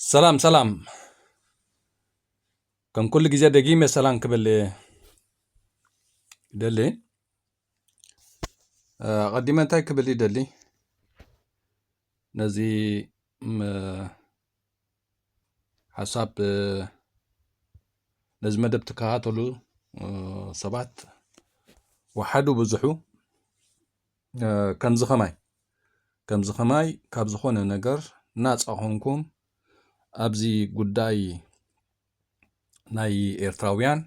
ሰላም ሰላም ከም ኩሉ ግዜ ደጊመ ሰላም ክብል ይደሊ ኣቐዲመ እንታይ ክብል ይደሊ ነዚ ሓሳብ ነዚ መደብ ትከታተሉ ሰባት ወሓዱ ብዙሑ ከምዚ ከማይ ከምዚ ከማይ ካብ ዝኾነ ነገር ናጻ ኾንኩም ኣብዚ ጉዳይ ናይ ኤርትራውያን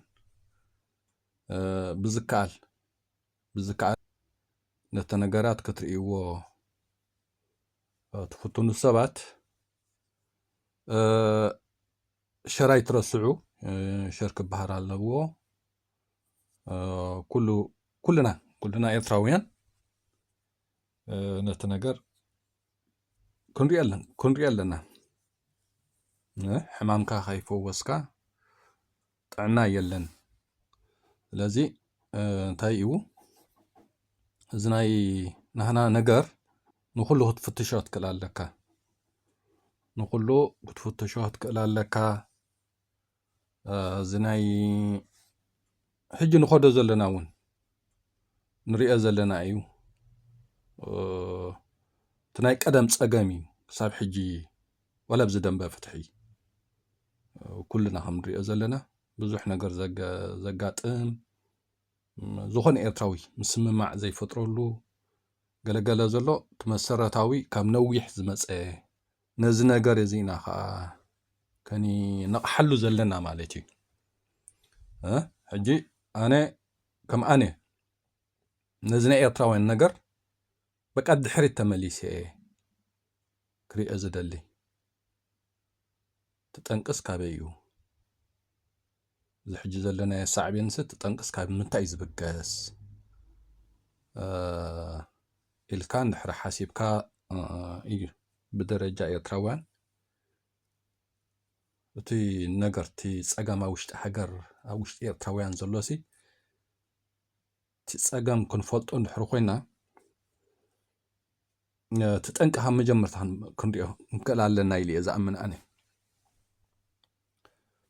ብዝከኣል ብዝከኣል ነቲ ነገራት ክትርእይዎ ትፍትኑ ሰባት ሸራይ ትረስዑ ሸር ክበሃል ኣለዎ ኩሉ ኩልና ኩልና ኤርትራውያን ነቲ ነገር ክንሪኦ ክንሪኦ ኣለና ሕማምካ ከይፈወስካ ጥዕና የለን ስለዚ እንታይ እዩ እዚ ናይ ናህና ነገር ንኩሉ ክትፍትሾ ትክእል ኣለካ ንኩሉ ክትፍትሾ ትክእል ኣለካ እዚ ናይ ሕጂ ንኸዶ ዘለና እውን ንሪኦ ዘለና እዩ እቲ ናይ ቀደም ፀገም እዩ ክሳብ ሕጂ ዋላ ብዚ ደንበ ፍትሒ ኩልና ከም ንሪኦ ዘለና ብዙሕ ነገር ዘጋጥም ዝኾነ ኤርትራዊ ምስምማዕ ዘይፈጥረሉ ገለገለ ዘሎ እቲ መሰረታዊ ካብ ነዊሕ ዝመፀ ነዚ ነገር እዚ ኢና ከኣ ከንነቕሓሉ ዘለና ማለት እዩ። ሕጂ ኣነ ከም ኣነ ነዚ ናይ ኤርትራውያን ነገር በቃ ድሕሪት ተመሊሰ እየ ክሪኦ ዝደሊ። እቲ ጠንቅስ ካበይ እዩ? እዚ ሕጂ ዘለናዮ ሳዕቤንስ እቲ ጠንቅስ ካብ ምንታይ እዩ ዝብገስ? ኢልካ እንድሕሪ ሓሲብካ እዩ ብደረጃ ኤርትራውያን እቲ ነገር እቲ ጸገም ኣብ ውሽጢ ሃገር ኣብ ውሽጢ ኤርትራውያን ዘሎሲ እቲ ጸገም ክንፈልጦ እንድሕር ኮይና እቲ ጠንቂ ካብ መጀመርታ ክንሪኦ ንክእል ኣለና ኢሉ እየ ዝኣምን ኣነ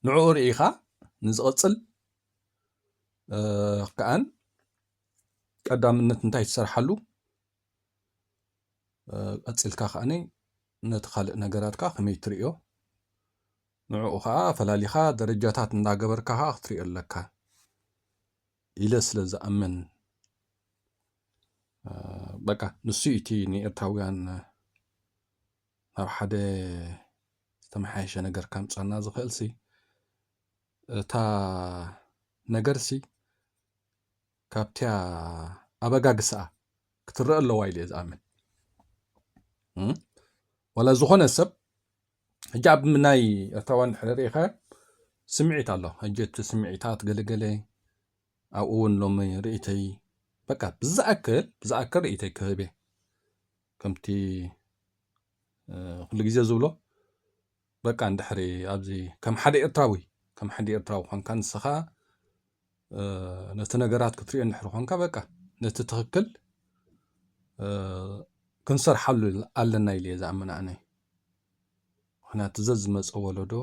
ንዕኡ ርኢኻ ንዝቕፅል ከኣን ቀዳምነት እንታይ ትሰርሓሉ ቀፂልካ ከኣኒ ነቲ ካልእ ነገራትካ ከመይ ትርእዮ ንዕኡ ከዓ ፈላሊኻ ደረጃታት እንዳገበርካ ከዓ ክትሪኦ ኣለካ ኢለ ስለ ዝኣምን በቃ ንሱ እቲ ንኤርትራውያን ናብ ሓደ ዝተመሓየሸ ነገር ከምፀና ዝኽእል ሲ እታ ነገር ሲ ካብቲ ኣበጋግስኣ ክትረአ ኣለዋ ኢለ እየ ዝኣምን ዋላ ዝኾነ ሰብ ሕጂ ኣብ ናይ ኤርትራውያን ድሕሪ ርኢኸ ስምዒት ኣሎ ሕጂ እቲ ስምዒታት ገለገለ ኣብኡ እውን ሎሚ ርእተይ በቃ ብዝኣክል ብዝኣክል ርእተይ ክህብ እየ ከምቲ ኩሉ ግዜ ዝብሎ በቃ እንድሕሪ ኣብዚ ከም ሓደ ኤርትራዊ ከም ሓደ ኤርትራዊ ኮንካ ንስኻ ነቲ ነገራት ክትሪኦ እንድሕር ኾንካ በቃ ነቲ ትኽክል ክንሰርሓሉ ኣለና ኢለ እየ ዝኣምን ኣነ ምክንያቱ ዘዝመፀ ወለዶ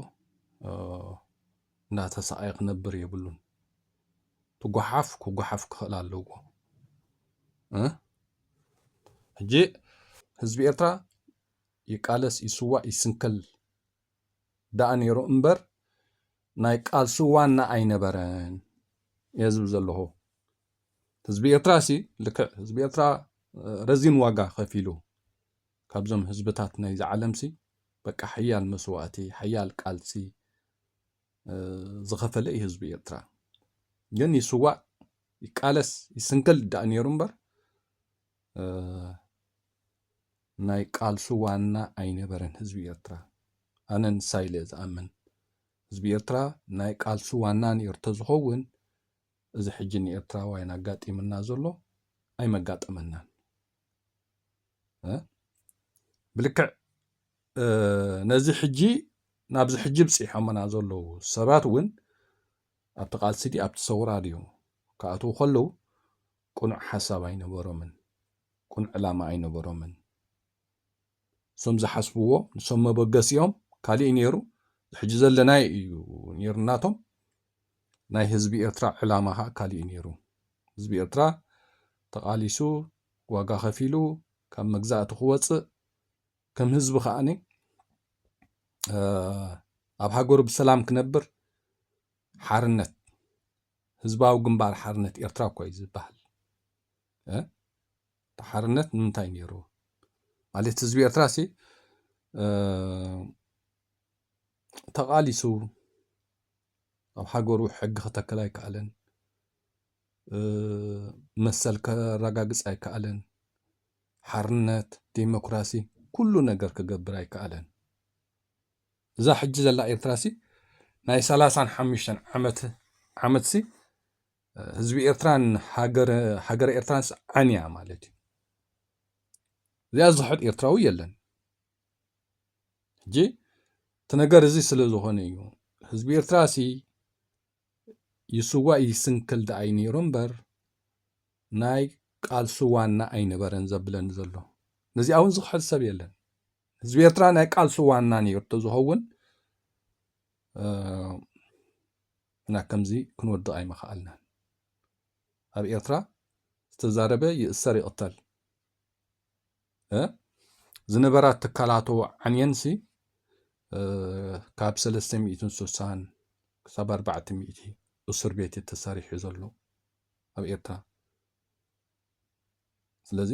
እናተሰቃየ ክነብር የብሉን ትጓሓፍ ክጓሓፍ ክኽእል ኣለዎ ሕጂ ህዝቢ ኤርትራ ይቃለስ ይስዋእ ይስንከል ደኣ ነይሩ እምበር ናይ ቃልሲ ዋና ኣይነበረን እየ ዝብል ዘለኹ። ህዝቢ ኤርትራ ሲ ልክዕ ህዝቢ ኤርትራ ረዚን ዋጋ ከፊሉ ካብዞም ህዝብታት ናይዚ ዓለም ሲ በቃ ሓያል መስዋእቲ ሓያል ቃልሲ ዝኸፈለ እዩ ህዝቢ ኤርትራ። ግን ይስዋእ ይቃለስ ይስንክል ደኣ ነይሩ እምበር ናይ ቃልሱ ዋና ኣይነበረን ህዝቢ ኤርትራ ኣነ ንሳ ኢለ ዝኣምን ህዝቢ ኤርትራ ናይ ቃልሱ ዋና ኔሩ ተዝኸውን እዚ ሕጂ ንኤርትራዋይን ኣጋጢምና ዘሎ ኣይመጋጠመናን ብልክዕ ነዚ ሕጂ ናብዚ ሕጂ ብፂሖምና ዘለዉ ሰባት እውን ኣብቲ ቃልሲ ዲ ኣብቲ ሰውራ ድዮም ክኣትዉ ከለዉ ቅኑዕ ሓሳብ ኣይነበሮምን፣ ቅኑዕ ዕላማ ኣይነበሮምን። እሶም ዝሓስብዎ ንሶም መበገሲኦም ካሊእ ነይሩ፣ ዝሕጂ ዘለናዮ እዩ ነይሩ ናቶም፣ ናይ ህዝቢ ኤርትራ ዕላማ ከኣ ካሊእ እዩ ነይሩ። ህዝቢ ኤርትራ ተቓሊሱ ዋጋ ከፊሉ ካብ መግዛእቲ ክወጽእ ከም ህዝቢ ከኣኒ ኣብ ሃገሩ ብሰላም ክነብር ሓርነት ህዝባዊ ግንባር ሓርነት ኤርትራ እኮ እዩ ዝበሃል እ እቲ ሓርነት ንምንታይ ነይሩ ማለት ህዝቢ ኤርትራ ሲ ተቓሊሱ ኣብ ሃገሩ ሕጊ ክተክል ኣይከኣለን መሰል ከረጋግጽ ኣይከኣለን ሓርነት ዴሞክራሲ ኩሉ ነገር ክገብር ኣይከኣለን እዛ ሕጂ ዘላ ኤርትራሲ ናይ ሰላሳን ሓሙሽተን ዓመት ዓመትሲ ህዝቢ ኤርትራን ሃገረ ኤርትራንስ ዓንያ ማለት እዩ እዚኣ ዝኽሕድ ኤርትራዊ የለን ሕጂ እቲ ነገር እዚ ስለ ዝኾነ እዩ ህዝቢ ኤርትራ ሲ ይስዋእ ይስንክል ደኣይ ነይሩ እምበር ናይ ቃልሲ ዋና ኣይነበረን ዘብለኒ ዘሎ ነዚኣ እውን ዝኽሕድ ሰብ የለን ህዝቢ ኤርትራ ናይ ቃልሲ ዋና ነይሩ ተዝኸውን እና ከምዚ ክንወድቕ ኣይምኸኣልናን ኣብ ኤርትራ ዝተዛረበ ይእሰር ይቕተል ዝነበራ ትካላቶ ዓንየንሲ ካብ 360 ክሳብ 400 እስር ቤት ተሰሪሑ ዘሎ ኣብ ኤርትራ ስለዚ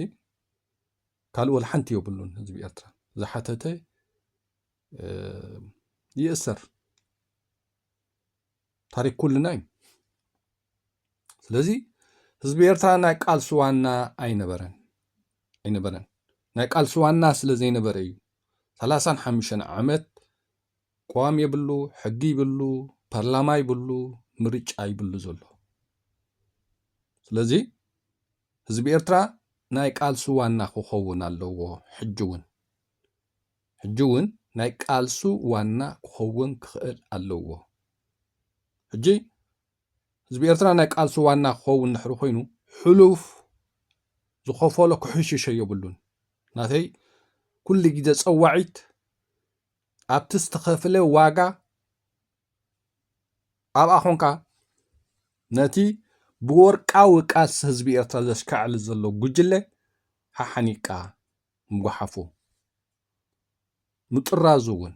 ካልእ ወላ ሓንቲ የብሉን ህዝቢ ኤርትራ ዝሓተተ ይእሰር ታሪክ ኩልና እዩ ስለዚ ህዝቢ ኤርትራ ናይ ቃልሲ ዋና ኣይነበረን ኣይነበረን ናይ ቃልሲ ዋና ስለ ዘይነበረ እዩ ሰላሳን ሓሙሽተን ዓመት ቅዋም የብሉ ሕጊ ይብሉ ፓርላማ ይብሉ ምርጫ ይብሉ ዘሎ ስለዚ ህዝቢ ኤርትራ ናይ ቃልሱ ዋና ክኸውን ኣለዎ ሕጂ እውን ሕጂ እውን ናይ ቃልሱ ዋና ክኸውን ክኽእል ኣለዎ ሕጂ ህዝቢ ኤርትራ ናይ ቃልሲ ዋና ክኸውን ድሕሪ ኮይኑ ሕሉፍ ዝኸፈሎ ክሕሽሸ የብሉን ናተይ ኩሉ ግዜ ፀዋዒት ኣብቲ ዝተኸፍለ ዋጋ ኣብኣ ኮንካ ነቲ ብወርቃዊ ቃልሲ ህዝቢ ኤርትራ ዘሽካዕል ዘሎ ጉጅለ ሓሓኒቅካ ምጉሓፉ ምጥራዙ እውን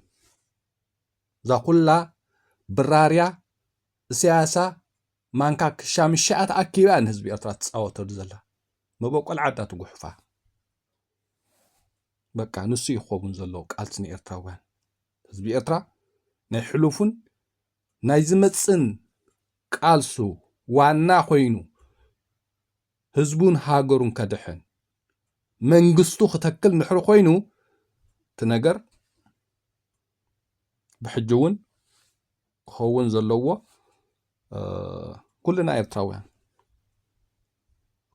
እዛ ኩላ ብራርያ እሰያሳ ማንካ ክሻምሻኣ ተኣኪባ ንህዝቢ ኤርትራ ትፃወተሉ ዘላ መበቆል ዓዳ ትጉሕፋ በቃ ንሱ እዩ ክኸውን ዘለዎ ቃልሲ ንኤርትራውያን ህዝቢ ኤርትራ ናይ ሕሉፉን ናይ ዝመፅን ቃልሱ ዋና ኮይኑ ህዝቡን ሃገሩን ከድሕን መንግስቱ ክተክል ንድሕሪ ኮይኑ እቲ ነገር ብሕጂ እውን ክኸውን ዘለዎ ኩልና ኤርትራውያን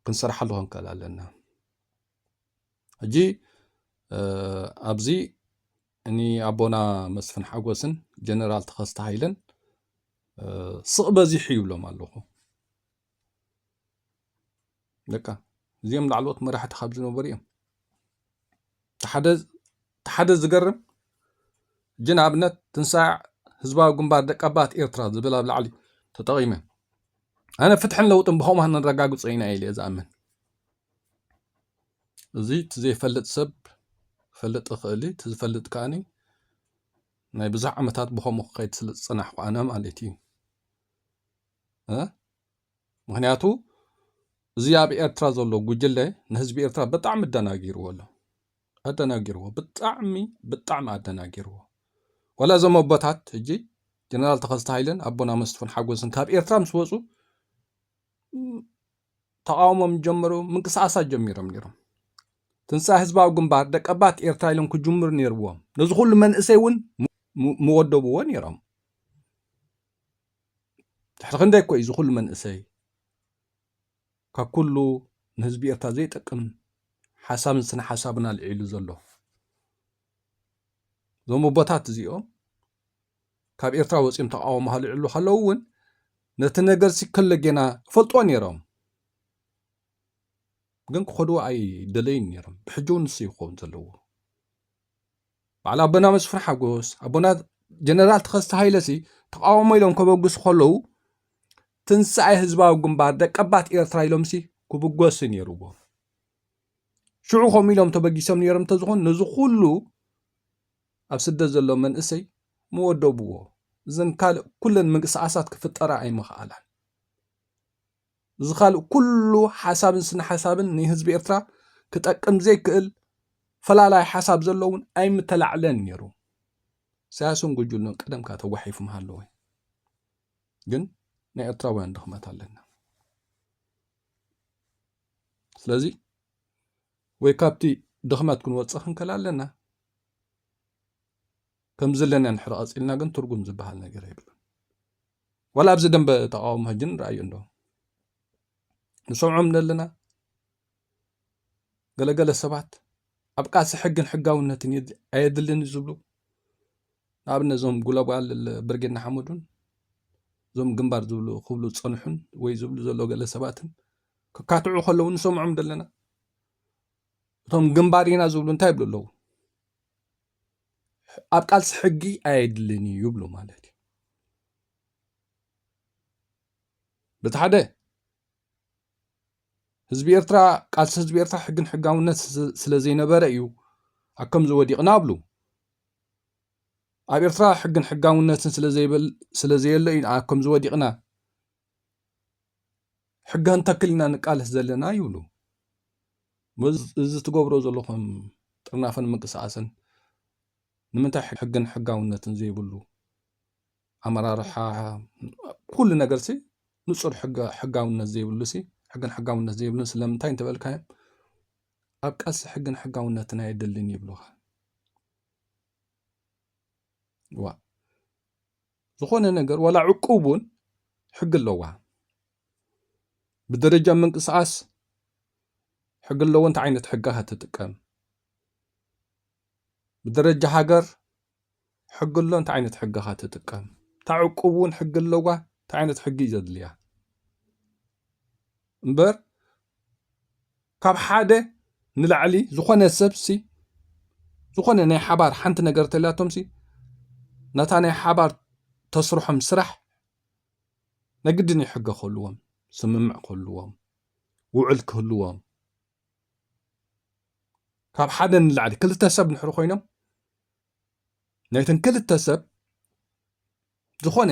ክንሰርሓሉ ክንከል ኣለና ሕጂ ኣብዚ ንኣቦና መስፍን ሓጎስን ጀነራል ተኸስተ ሃይለን ስቕ በዚሑ ይብሎም ኣለኹ ደቃ እዚኦም ላዕለዎት መራሕቲ ካብ ዝነበሩ እዮም ሓደ ዝገርም ጅን ኣብነት ትንሳዕ ህዝባዊ ግንባር ደቀባት ኤርትራ ዝብል ኣብ ላዕሊ ተጠቒመ ኣነ ፍትሕን ለውጥን ብኸምኡ ንረጋግጾ ኢና ኢለ ዝኣምን እዚ እቲ ዘይፈልጥ ሰብ ክፈልጥ ይኽእል እዩ፣ እቲ ዝፈልጥ ከኣኒ ናይ ብዙሕ ዓመታት ብኸምኡ ክኸይድ ስለ ዝጸናሕኩ ኣነ ማለት እዩ እ ምክንያቱ እዚ ኣብ ኤርትራ ዘሎ ጉጅለ ንህዝቢ ኤርትራ ብጣዕሚ ኣደናጊርዎ ኣሎ ኣደናጊርዎ ብጣዕሚ ብጣዕሚ ኣደናጊርዎ ዋላ እዞም ኣቦታት ሕጂ ጀነራል ተኸስተ ሃይለን ኣቦና መስፍን ሓጎስን ካብ ኤርትራ ምስ ወፁ ተቓውሞም ዝጀመሩ ምንቅስቓሳት ጀሚሮም ነይሮም ትንሳ ህዝባዊ ግንባር ደቀባት ኤርትራ ኢሎም ክጅምሩ ነይርዎም ነዚ ኩሉ መንእሰይ እውን ምወደብዎ ነይሮም ትሕቲ ክንደይ ኮ እዩ እዚ ኩሉ መንእሰይ ካብ ኩሉ ንህዝቢ ኤርትራ ዘይጠቅም ሓሳብን ስነ ሓሳብን ኣልዒሉ ዘሎ እዞም ኣቦታት እዚኦም ካብ ኤርትራ ወጺኦም ተቓውሞ ሃልዕሉ ከለዉ እውን ነቲ ነገርሲ ከለጌና ይፈልጥዎ ነይሮም ግን ክኸድዎ ኣይደለዩን ነይሮም ብሕጂ እውን ንሱ ይኸውን ዘለዎ ባዕል ኣቦና መስፍን ሓጎስ ኣቦና ጀነራል ተኸስተ ሃይለሲ ተቃውሞ ኢሎም ከበግሱ ከለዉ ትንሳኤ ህዝባዊ ግንባር ደቀባት ኤርትራ ኢሎምሲ ክብገሱ ነይርዎ ሽዑ ከምኡ ኢሎም ተበጊሶም ነይሮም እንተዝኾኑ ነዚ ኩሉ ኣብ ስደት ዘሎ መንእሰይ ምወደብዎ እዘን ካልእ ኩለን ምንቅስቃሳት ክፍጠራ ኣይምኽኣላን። እዚ ካልእ ኩሉ ሓሳብን ስነ ሓሳብን ንህዝቢ ኤርትራ ክጠቅም ዘይክእል ፈላላይ ሓሳብ ዘሎ እውን ኣይምተላዕለን ነይሩ። ኢሳያስን ጉጅሉን ቀደም ከ ተጓሒፎም ሃለወ ግን ናይ ኤርትራውያን ድኽመት ኣለና ስለዚ ወይ ካብቲ ድኽመት ክንወፅእ ክንከል ኣለና ከም ዘለና ንሕር ቐጺልና ግን ትርጉም ዝበሃል ነገር የብሉን ዋላ ኣብዚ ደንበ ተቃውሞ ሕጂ ንርኣዮ እንዶ ንሰምዖም ዘለና ገለገለ ሰባት ኣብ ቃልሲ ሕግን ሕጋውነትን ኣየድልን እዩ ዝብሉ ንኣብነት እዞም ጉለጓል ብርጌና ሓመዱን እዞም ግንባር ዝብሉ ክብሉ ዝፀንሑን ወይ ዝብሉ ዘሎ ገለ ሰባትን ክካትዑ ከለዉ ንሰምዖም ዘለና እቶም ግንባር ኢና ዝብሉ እንታይ ይብሉ ኣለዉ ኣብ ቃልሲ ሕጊ ኣየድልን እዩ ይብሉ ማለት እዩ በቲ ሓደ ህዝቢ ኤርትራ ቃልሲ ህዝቢ ኤርትራ ሕግን ሕጋውነት ስለ ዘይነበረ እዩ ኣብ ከምዚ ወዲቕና ኣብሉ ኣብ ኤርትራ ሕግን ሕጋውነትን ስለዘይበል ስለ ዘየለ እዩ ኣብ ከምዚ ወዲቕና ሕጋ እንተክል ኢና ንቃለስ ዘለና ይብሉ እዚ ትገብሮ ዘለኹም ጥርናፈን ምንቅስቃስን ንምንታይ ሕግን ሕጋውነትን ዘይብሉ ኣመራርሓ ኩሉ ነገር ሲ ንፁር ሕጋውነት ዘይብሉ ሲ ሕግን ሕጋውነት ዘይብሉ ስለምንታይ እንተበልካዮም ኣብ ቃልሲ ሕግን ሕጋውነትን ኣየድልን ይብሉኻ ዋ ዝኾነ ነገር ዋላ ዕቁብ እውን ሕጊ ኣለዋ። ብደረጃ ምንቅስቓስ ሕጊ ኣለዎ። እንታይ ዓይነት ሕጊ ትጥቀም? ብደረጃ ሃገር ሕጊ ኣሎ። እንታይ ዓይነት ሕጊ ትጥቀም? እታ ዕቁብ እውን ሕጊ ኣለዋ። እንታይ ዓይነት ሕጊ እዩ ዘድልያ እምበር ካብ ሓደ ንላዕሊ ዝኾነ ሰብሲ ዝኾነ ናይ ሓባር ሓንቲ ነገር ተልያቶምሲ ነታ ናይ ሓባር ተስርሖም ስራሕ ነግድን እዩ ሕገ ክህልዎም ስምምዕ ክህልዎም ውዕል ክህልዎም ካብ ሓደ ንላዕሊ ክልተ ሰብ ንሕሪ ኮይኖም ናይተን ክልተ ሰብ ዝኾነ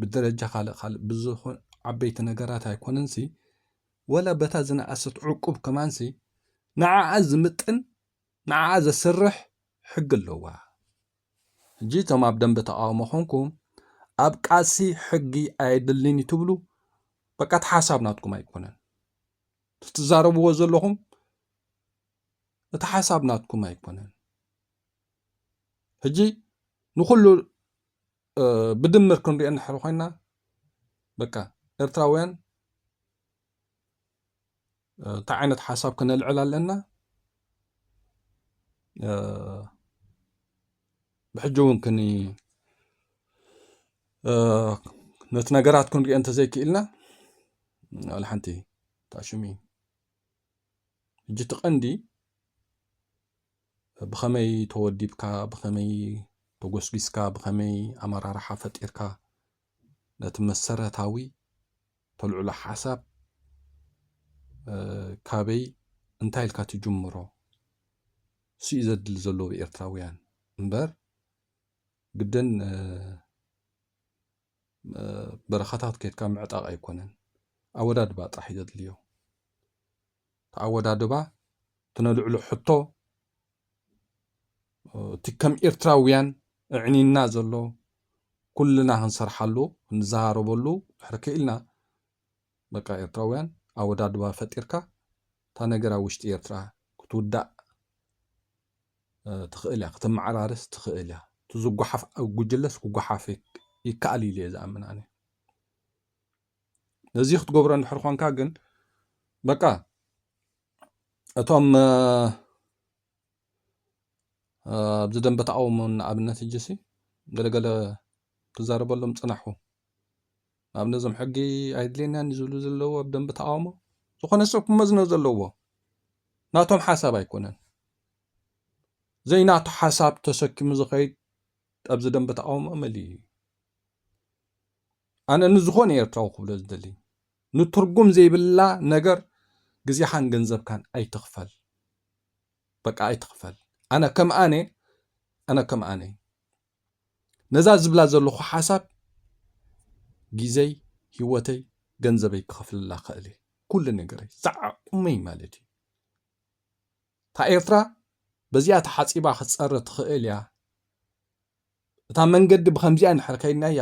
ብደረጃ ካልእ ካልእ ብዝኾን ዓበይቲ ነገራት ኣይኮነንሲ ወላ በታ ዝነኣሰት ዕቁብ ከማንሲ ንዓኣ ዝምጥን ንዓኣ ዘስርሕ ሕጊ ኣለዋ ሕጂ እቶም ኣብ ደንበ ተቃውሞ ኮንኩም ኣብ ቃልሲ ሕጊ ኣየድልን እዩ ትብሉ በቃ እቲ ሓሳብ ናትኩም ኣይኮነን ትዛረብዎ ዘለኹም እቲ ሓሳብ ናትኩም ኣይኮነን ሕጂ ንኩሉ ብድምር ክንሪኦ እንድሕር ኮይና በቃ ኤርትራውያን እንታይ ዓይነት ሓሳብ ክነልዕል ኣለና ብሕጂ እውን ክኒ ነቲ ነገራት ክንሪኦ እንተዘይክኢልና ሓንቲ ታሽሚ ሕጂ እቲ ቀንዲ ብኸመይ ተወዲብካ ብኸመይ ተጎስጒስካ ብኸመይ ኣመራርሓ ፈጢርካ ነቲ መሰረታዊ ተልዕሎ ሓሳብ ካበይ እንታይ ኢልካ ትጅምሮ ስዩ ዘድሊ ዘለዎ ኤርትራውያን እምበር ግድን በረኻታት ኬድካ ምዕጣቕ ኣይኮነን ኣወዳድባ ጥራሕ እዩ ዘድልዮ ተኣወዳድባ ትነልዕሎ ሕቶ እቲ ከም ኤርትራውያን እዕኒና ዘሎ ኩልና ክንሰርሓሉ ክንዘራረበሉ ድሕሪ ክኢልና በቃ ኤርትራውያን ኣወዳድባ ፈጢርካ እታ ነገር ኣብ ውሽጢ ኤርትራ ክትውዳእ ትኽእል እያ ክትመዓራርስ ትኽእል እያ እቲ ዝጓሓፍ ኣብ ጉጅለስ ክጓሓፍ ይከኣል ኢሉ እየ ዝኣምን ኣነ ነዚ ክትገብሮ እንድሕር ኾንካ ግን በቃ እቶም ኣብዚ ደንበ ተቃውሞ ንኣብነት እጅሲ ገለገለ ትዛረበሎም ፅናሑ ናብ ነዞም ሕጊ ኣይድልየናን እዩ ዝብሉ ዘለዎ ኣብ ደንቢ ተቃውሞ ዝኾነ ሰብ ክመዝኖ ዘለዎ ናቶም ሓሳብ ኣይኮነን ዘይናቱ ሓሳብ ተሰኪሙ ዝኸይድ ኣብዚ ደንቢ ተቃውሞ መሊ እዩ ኣነ ንዝኾነ ኤርትራዊ ክብሎ ዝደሊ ንትርጉም ዘይብላ ነገር ግዜኻን ገንዘብካን ኣይትኽፈል በቃ ኣይትኽፈል ኣነ ከም ኣነ ኣነ ከም ኣነ ነዛ ዝብላ ዘለኹ ሓሳብ ግዜይ ሂወተይ ገንዘበይ ክኸፍለላ እኽእል እየ ኩሉ ነገረይ ዝዓቕመይ ማለት እዩ እታ ኤርትራ በዚኣ ተሓጺባ ክትጸረ ትኽእል እያ እታ መንገዲ ብከምዚኣ እንድሕር ከይድናያ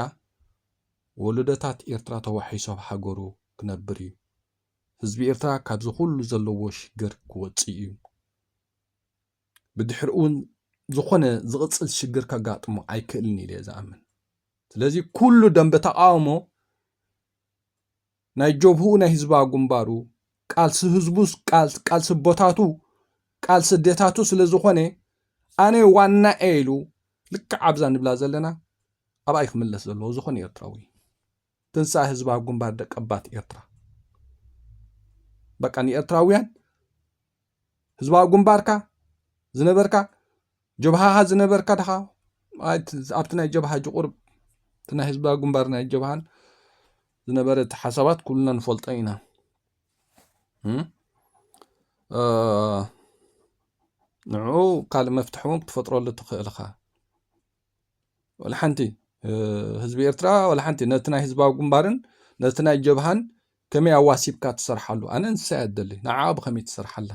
ወለዶታት ኤርትራ ተዋሒሶ ኣብ ሃገሩ ክነብር እዩ ህዝቢ ኤርትራ ካብዚ ኩሉ ዘለዎ ሽግር ክወጽእ እዩ ብድሕሪኡ እውን ዝኾነ ዝቕፅል ሽግር ከጋጥሞ ኣይክእልን ኢለ ዝኣምን ስለዚ ኩሉ ደንበ ተቃውሞ ናይ ጀብህኡ ናይ ህዝባዊ ግንባሩ ቃልሲ ህዝቡ ቃልሲ ቦታቱ ቃልሲ ዴታቱ ስለ ዝኾነ ኣነ ዋና እየ ኢሉ ልክዕ ኣብዛ ንብላ ዘለና ኣብኣይ ክምለስ ዘለዎ ዝኾነ ኤርትራዊ ትንሳኤ ህዝባዊ ግንባር ደቀባት ኤርትራ በቃ ንኤርትራውያን ህዝባዊ ግንባርካ ዝነበርካ ጀብሃኻ ዝነበርካ ድኻ ኣብቲ ናይ ጀብሃ ጅቑርብ እቲ ናይ ህዝባዊ ግንባር ናይ ጀብሃን ዝነበረ እቲ ሓሳባት ኩልና ንፈልጦ ኢና ንዕኡ ካልእ መፍትሒ እውን ክትፈጥረሉ ትኽእል ኢኻ ዋላ ሓንቲ ህዝቢ ኤርትራ ዋላ ሓንቲ ነቲ ናይ ህዝባዊ ግንባርን ነቲ ናይ ጀብሃን ከመይ ኣዋሲብካ ትሰርሓሉ ኣነ እንስሳ እያ ደሊ ንዓ ብኸመይ ትሰርሓላ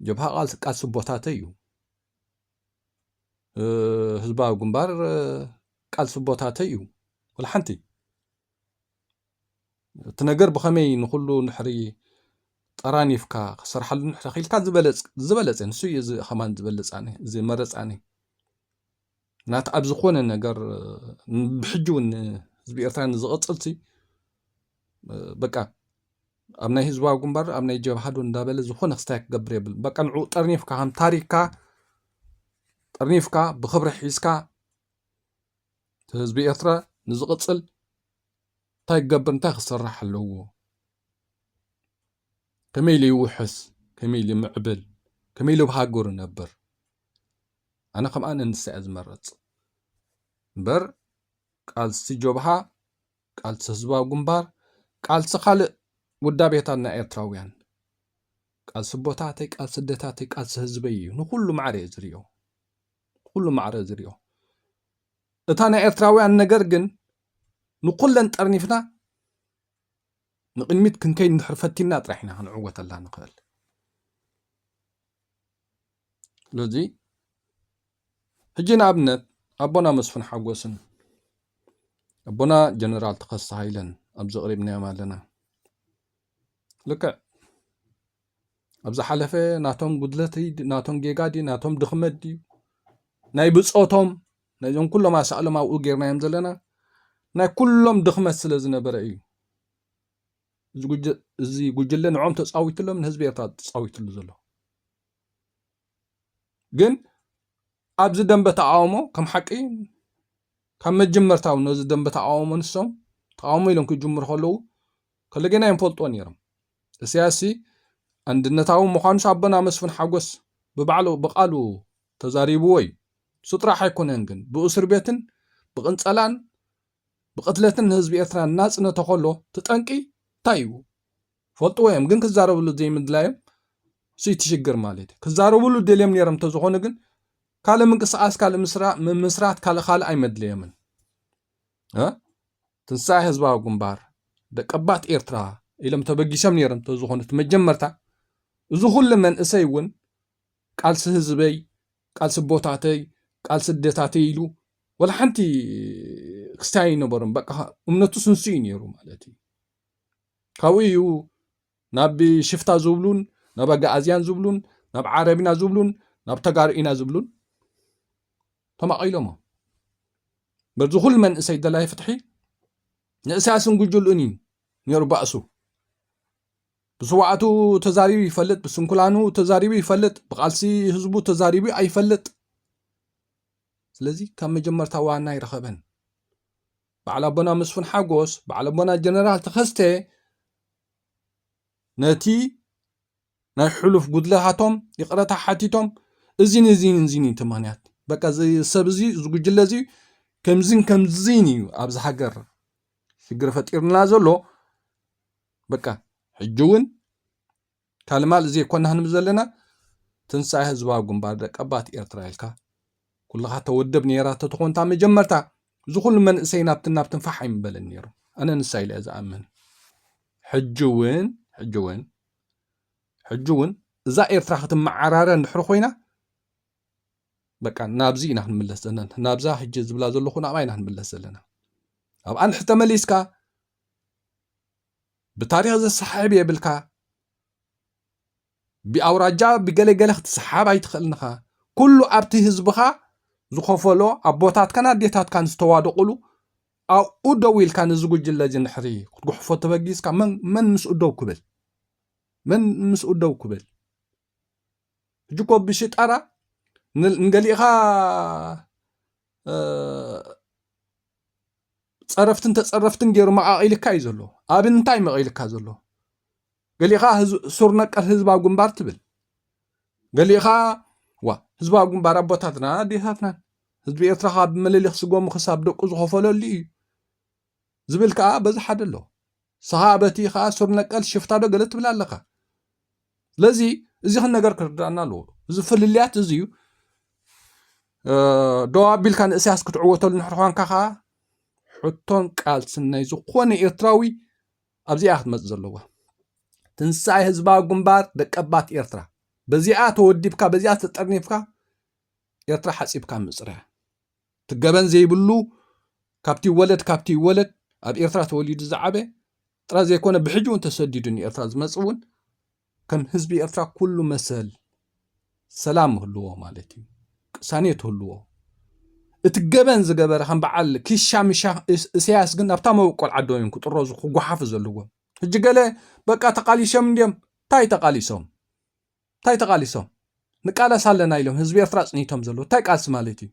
ጀብሃ ቃል ቃል ስቦታተ እዩ ህዝባዊ ግንባር ቃል ስቦታተ እዩ ዋላ ሓንቲ እቲ ነገር ብኸመይ ንኹሉ ንሕሪ ጠራኒፍካ ክሰርሓሉ ንሕሪ ክኢልካ ዝበለጽ ዝበለጸ ንሱ እዩ እዚ ከማን ዝበለጽ ኣነ ዝመረጽ ኣነ ናት ኣብ ዝኾነ ነገር ብሕጂ እውን ህዝቢ ኤርትራ ንዝቕጽልሲ በቃ ኣብ ናይ ህዝባዊ ግንባር ኣብ ናይ ጀብሃዶ እንዳበለ ዝኾነ ክስታይ ክገብር የብል በቃ ንዑ ጠርኒፍካ ከም ታሪክካ ጠርኒፍካ ብክብሪ ሒዝካ ህዝቢ ኤርትራ ንዝቕፅል እንታይ ክገብር እንታይ ክስራሕ ኣለዎ ከመይ ኢሉ ይውሕስ ከመይ ኢሉ ይምዕብል ከመይ ኢሉ ኣብ ሃገሩ ይነብር ኣነ ከምኣ ንንሳ እየ ዝመረፅ እምበር ቃልሲ ጀብሃ ቃልሲ ህዝባዊ ግንባር ቃልሲ ካልእ ውዳቤታትና ኤርትራውያን ቃልሲ ቦታተይ ቃልሲ ደታተይ ቃልሲ ህዝበይ እዩ ንኩሉ ማዕረ እየ ዝሪኦ ብኹሉ ማዕረ ዝሪኦ እታ ናይ ኤርትራውያን ነገር ግን ንኩለን ጠርኒፍና ንቕድሚት ክንከይድ እንድሕር ፈቲና ጥራሕ ኢና ክንዕወተላ ንኽእል ስለዚ ሕጂ ንኣብነት ኣቦና መስፍን ሓጎስን ኣቦና ጀነራል ተኸስተ ሃይለን ኣብ ዘቕሪብናዮም ኣለና ልክዕ ኣብ ዝሓለፈ ናቶም ጉድለት ናቶም ጌጋ ድዩ ናቶም ድኽመት ድዩ ናይ ብፆቶም ናይዞም ኩሎም ኣሳእሎም ኣብኡ ጌርናዮም ዘለና ናይ ኩሎም ድኽመት ስለ ዝነበረ እዩ እዚ ጉጅለ ንዖም ተፃዊትሎም ንህዝቢ ኤርትራ ተፃዊትሉ ዘሎ ግን ኣብዚ ደንበ ተቃውሞ ከም ሓቂ ካብ መጀመርታው ነዚ ደንበ ተቃውሞ ንሶም ተቃውሞ ኢሎም ክጅምሩ ከለዉ ከለገና ኣይንፈልጦን ነይሮም እሰያስሲ ኣንድነታዊ ምዃኑስ ኣቦና መስፍን ሓጎስ ብባዕሉ ብቃሉ ተዛሪብዎ እዩ እሱ ጥራሕ ኣይኮነን ግን ብእሱርቤትን ብቅንጸላን ብቅትለትን ንህዝቢ ኤርትራ እናጽነተ ከሎ እቲ ጠንቂ እንታይ እዩ ፈልጥዎ እዮም ግን ክዛረብሉ ዘይምድላዮም እሱ እቲ ሽግር ማለት እዩ ክዛረብሉ ደልዮም ነይሮም እንተዝኾኑ ግን ካልእ ምንቅስቃስ ካልእ ምስራ ምምስራት ካልእ ካልእ ኣይመድለዮምን እ ትንሳኤ ህዝባዊ ግንባር፣ ደቀባት ኤርትራ ኢሎም ተበጊሶም ነይሮም ተዝኾኑ እቲ መጀመርታ እዚ ኩሉ መንእሰይ እውን ቃልሲ ህዝበይ፣ ቃልሲ ኣቦታተይ፣ ቃልሲ ኣዴታተይ ኢሉ ወላ ሓንቲ ክስታይ ኣይነበሮም። በቃ እምነቱ ስንሱ እዩ ነይሩ ማለት እዩ። ካብኡ እዩ ናብ ሽፍታ ዝብሉን ናብ ኣጋኣዝያን ዝብሉን ናብ ዓረብና ዝብሉን ናብ ተጋሩ ኢና ዝብሉን ተማቒሎሞ በዚ ኩሉ መንእሰይ ደላይ ፍትሒ ንእስያስን ጉጅሉን እዩ ነይሩ ባእሱ ብስዋዕቱ ተዛሪቡ ይፈልጥ ብስንኩላኑ ተዛሪቡ ይፈልጥ ብቃልሲ ህዝቡ ተዛሪቡ ኣይፈልጥ ስለዚ ካብ መጀመርታ ዋና ኣይረኸበን በዓል ኣቦና መስፍን ሓጎስ በዓል ኣቦና ጀነራል ተኸስተ ነቲ ናይ ሑሉፍ ጉድለታቶም ይቅረታ ሓቲቶም እዚን እዚን እዚን እዩ ተምክንያት በቃ እዚ ሰብ እዚ እዚ ጉጅለ እዚ ከምዚን ከምዚን እዩ ኣብዚ ሃገር ሽግር ፈጢርና ዘሎ በቃ ሕጂ እውን ካልማል ዘይኮና ክንብ ዘለና ትንሳኤ ህዝባዊ ግንባር ደቀባት ኤርትራ ኢልካ ኩልኻ ተወደብ ነይራ ተተኾንታ መጀመርታ እዚ ኩሉ መንእሰይ ናብትን ናብትን ፋሕ ኣይምበለን ነይሩ ኣነ ንሳ ኢለ ዝኣምን ሕጂ እውን ሕጂ እውን ሕጂ እውን እዛ ኤርትራ ክትመዓራረ እንድሕሪ ኮይና በቃ ናብዚ ኢና ክንምለስ ዘለና ናብዛ ሕጂ ዝብላ ዘለኹ ናብኣ ኢና ክንምለስ ዘለና ኣብኣ ንድሕር ተመሊስካ ብታሪክ ዘሰሓሕብ የብልካ ብኣውራጃ ብገለገለ ክትሰሓብ ኣይትኽእልን ኢኻ ኩሉ ኣብቲ ህዝብኻ ዝኸፈሎ ኣቦታትካን ኣዴታትካን ዝተዋደቑሉ ኣብኡ ደው ኢልካ ነዚ ጉጅለ እዚ ንድሕሪ ክትጉሕፎ ተበጊስካ መን ምስኡ ደው ክብል መን ምስኡ ደው ክብል ሕጂ እኮ ብሽጣራ ንገሊእኻ ፀረፍትን ተፀረፍትን ገይሩ መቃቂልካ እዩ ዘሎ ኣብ እንታይ መቂልካ ዘሎ ገሊእኻ ሱር ነቀል ህዝባዊ ግንባር ትብል ገሊኡ ከኣ ዋእ ህዝባዊ ግንባር ኣቦታትናን ኣዴታትናን ህዝቢ ኤርትራ ከኣ ብምልሊኽ ስጎሙ ክሳብ ደቁ ዝኾፈለሉ እዩ ዝብል ከኣ በዚ ሓደ ኣሎ ስኻ በቲ ከኣ ሱር ነቀል ሽፍታዶ ገለ ትብል ኣለኻ ስለዚ እዚ ክነገር ክርዳእና ኣለዎ እዚ ፍልልያት እዚ እዩ ደው ኣቢልካ ንእስያስ ክትዕወተሉ ንሕር ኳንካ ከዓ ሕቶን ቃልስን ናይ ዝኾነ ኤርትራዊ ኣብዚኣ እያ ክትመጽእ ዘለዋ። ትንሳኤ ህዝባዊ ግንባር ደቀባት ኤርትራ በዚኣ ተወዲብካ በዚኣ ተጠርኒፍካ ኤርትራ ሓጺብካ ምጽራያ ትገበን ዘይብሉ ካብቲ ይወለድ ካብቲ ይወለድ ኣብ ኤርትራ ተወሊዱ ዝዓበ ጥራይ ዘይኮነ ብሕጂ እውን ተሰዲዱ ንኤርትራ ዝመጽእ እውን ከም ህዝቢ ኤርትራ ኩሉ መሰል ሰላም ህልዎ ማለት እዩ ቅሳኔት ህልዎ እቲ ገበን ዝገበረ ከም በዓል ኪሻ ሚሻ እሰያስ ግን ኣብታ መበቆል ዓዶም እዮም ክጥረዙ ክጓሓፉ ዘለዎም ሕጂ ገለ በቃ ተቃሊሶም እንዲዮም እንታይ ተቃሊሶም እንታይ ተቃሊሶም ንቃለስ ኣለና ኢሎም ህዝቢ ኤርትራ ኣጽኒቶም ዘለዉ እንታይ ቃልሲ ማለት እዩ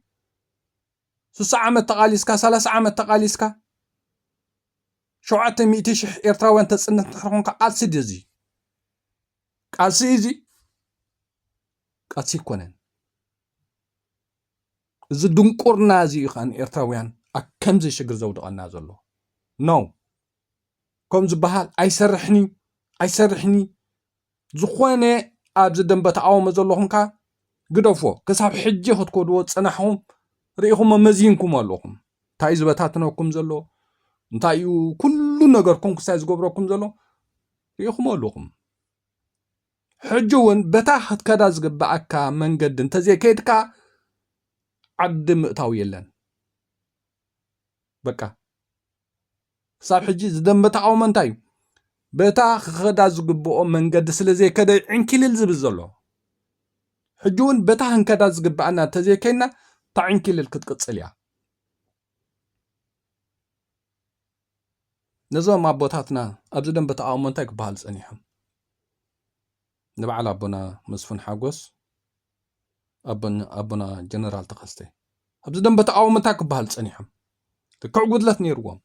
ስሳ ዓመት ተቃሊስካ ሰላሳ ዓመት ተቃሊስካ ሸውዓተ ሚእቲ ሽሕ ኤርትራውያን ተጽንት እንድሕር ኮንካ ቃልሲ ድዩ እዚ ቃልሲ እዩ እዚ ቃልሲ ይኮነን እዚ ድንቁርና እዚ እዩ ከኣ ኤርትራውያን ኣብ ከምዚ ሽግር ዘውድቐና ዘሎ ኖ ከም ዝበሃል ኣይሰርሕን እዩ ኣይሰርሕን እዩ ዝኾነ ኣብዚ ደንበ ትዓወሙ ዘለኹም ከ ግደፎ ክሳብ ሕጂ ክትኮድዎ ዝጸናሕኹም ርኢኹሞ መዚንኩም ኣለኹም እንታይ እዩ ዝበታትነኩም ዘሎ እንታይ እዩ ኩሉ ነገርኩም ክሳይ ዝገብረኩም ዘሎ ርኢኹሞ ኣለኹም ሕጂ እውን በታ ክትከዳ ዝግብኣካ መንገዲ እንተዘይከይድካ ዓዲ ምእታው የለን በቃ ክሳብ ሕጂ ዝደንበ ተቓውሞ እንታይ እዩ? በታ ክኸዳ ዝግብኦ መንገዲ ስለ ዘይከደ ዕንኪልል ዝብል ዘሎ። ሕጂ እውን በታ ክንከዳ ዝግብኣና እንተዘይከይንና እታ ዕንኪልል ክትቅጽል እያ። ነዞም ኣቦታትና ኣብዚ ደንበ ተቓውሞ እንታይ ክበሃል ጸኒሖም? ንበዓል ኣቦና መስፍን ሓጎስ ኣቦና ጀነራል ተኸስተ ኣብዚ ደንበ ተቃውሞ እንታይ ክበሃል ፀኒሖም ልክዕ ጉድለት ነይርዎም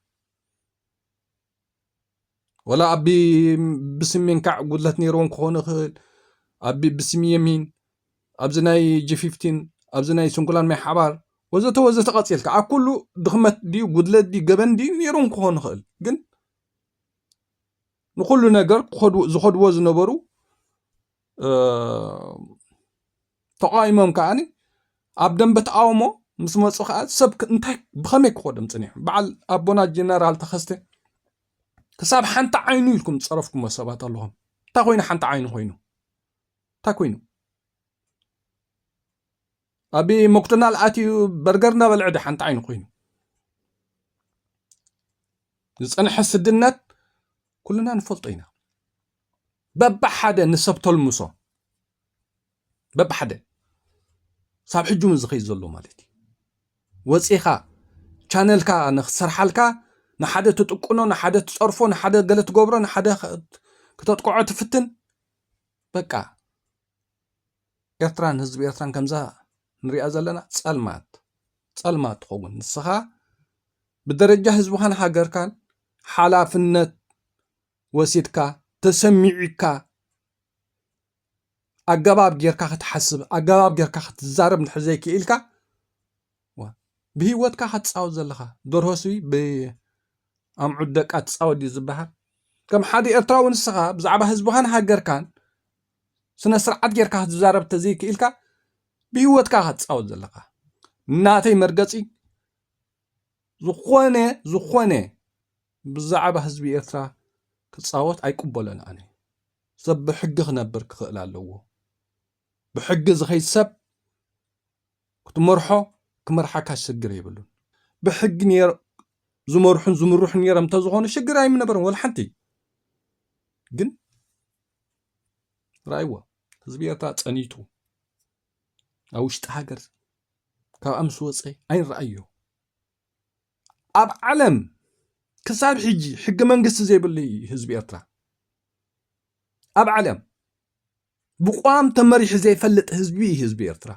ወላ ኣብ ብስሜን ካዕ ጉድለት ነይርዎም ክኾኑ ይኽእል ኣብ ብስሚ የሚን ኣብዚ ናይ ጂፊፍቲን ኣብዚ ናይ ስንኩላን ማይ ሓባር ወዘተ ወዘተ ቀፂልካ ኣብ ኩሉ ድኽመት ድዩ ጉድለት ድዩ ገበን ድዩ ነይሮም ክኾኑ ይኽእል ግን ንኩሉ ነገር ዝኸድዎ ዝነበሩ ተቓዊሞም ከኣ ኣብ ደንበ ተቓውሞ ምስ መፁ ከዓ ሰብ እንታይ ብኸመይ ክኸዶም ፅኒሖም በዓል ኣቦና ጀነራል ተኸስተ ክሳብ ሓንቲ ዓይኑ ኢልኩም ዝፀረፍኩሞ ሰባት ኣለኹም እንታይ ኮይኑ ሓንቲ ዓይኑ ኮይኑ እንታይ ኮይኑ ኣቢ ሞክዶናል ኣትዩ በርገር እናበልዐ ድዩ ሓንቲ ዓይኑ ኮይኑ ዝፀንሐ ስድነት ኩልና ንፈልጦ ኢና በብሓደ ንሰብ ተልምሶ በብሓደ ሳብ ሕጂ እውን ዝኸይድ ዘሎ ማለት እዩ ወፂኻ ቻነልካ ንክትሰርሓልካ ንሓደ ትጥቁኖ ንሓደ ትፀርፎ ንሓደ ገለ ትገብሮ ንሓደ ክተጥቅዖ ትፍትን በቃ ኤርትራን ህዝቢ ኤርትራን ከምዛ ንሪኣ ዘለና ጸልማት ጸልማት ትኸውን ንስኻ ብደረጃ ህዝብኻን ሃገርካን ሓላፍነት ወሲድካ ተሰሚዑካ ኣገባብ ጌርካ ክትሓስብ ኣገባብ ጌርካ ክትዛረብ እንድሕር ዘይክኢልካ ብሂወትካ ክትፃወት ዘለኻ ደርሆ ስቢ ብኣምዑት ደቃ ትፃወት ድዩ ዝበሃል ከም ሓደ ኤርትራዊ ንስኻ ብዛዕባ ህዝብኻን ሃገርካን ስነ ስርዓት ጌርካ ክትዛረብ ተዘይክኢልካ ብሂወትካ ኢኻ ትፃወት ዘለኻ ናተይ መርገፂ ዝኾነ ዝኾነ ብዛዕባ ህዝቢ ኤርትራ ክፃወት ኣይቅበሎን ኣነ ሰብ ብሕጊ ክነብር ክኽእል ኣለዎ ብሕጊ ዝኸይድ ሰብ ክትመርሖ ክመርሓካ ሽግር የብሉን ብሕጊ ኔር ዝመርሑን ዝምርሑን ኔሮም እንተዝኾኑ ሽግር ኣይምነበረን ወላ ሓንቲ ግን ራእይዎ ህዝቢ ኤርትራ ጸኒቱ ኣብ ውሽጢ ሃገር ካብ ኣምስ ወፀ ኣይንረኣዮ ኣብ ዓለም ክሳብ ሕጂ ሕገ መንግስቲ ዘይብሉ ህዝቢ ኤርትራ ኣብ ዓለም ብቋም ተመሪሑ ዘይፈልጥ ህዝቢ እዩ ህዝቢ ኤርትራ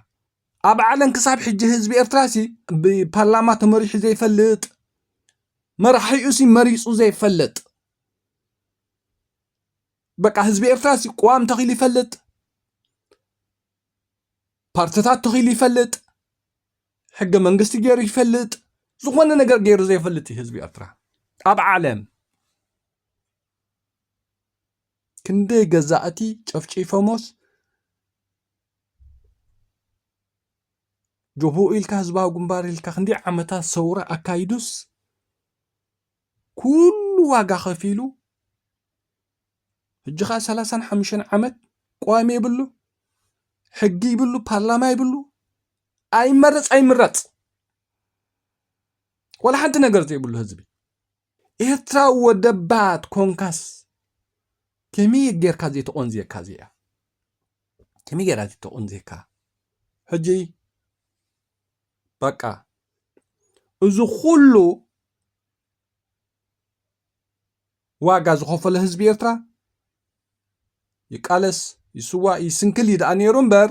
ኣብ ዓለም ክሳብ ሕጂ ህዝቢ ኤርትራ ሲ ብፓርላማ ተመሪሑ ዘይፈልጥ መራሒኡ ሲ መሪፁ ዘይፈልጥ በቃ ህዝቢ ኤርትራ ሲ ቋም ተኺሉ ይፈልጥ ፓርትታት ተኺሉ ይፈልጥ ሕገ መንግስቲ ገይሩ ይፈልጥ ዝኾነ ነገር ገይሩ ዘይፈልጥ እዩ ህዝቢ ኤርትራ ኣብ ዓለም ክንደይ ገዛእቲ ጨፍጪፎሞስ ጆቦኡ ኢልካ ህዝባዊ ግንባር ኢልካ ክንደይ ዓመታት ሰውራ ኣካይዱስ ኩሉ ዋጋ ከፊሉ ሕጂ ከዓ ሰላሳን ሓሙሽተን ዓመት ቀዋሚ የብሉ ሕጊ ይብሉ ፓርላማ ይብሉ ኣይመረፅ ኣይምረፅ ወላ ሓንቲ ነገር ዘይብሉ ህዝቢ ኤርትራዊ ወደባ ኮንካስ ከመይ ጌርካ ዘይተቆንዝየካ እዚኣ ከመይ ጌራ ዘይተቆንዝየካ ሕጂ በቃ እዚ ኩሉ ዋጋ ዝኸፈለ ህዝቢ ኤርትራ ይቃለስ ይስዋእ ይስንክል እዩ ደኣ ነይሩ እምበር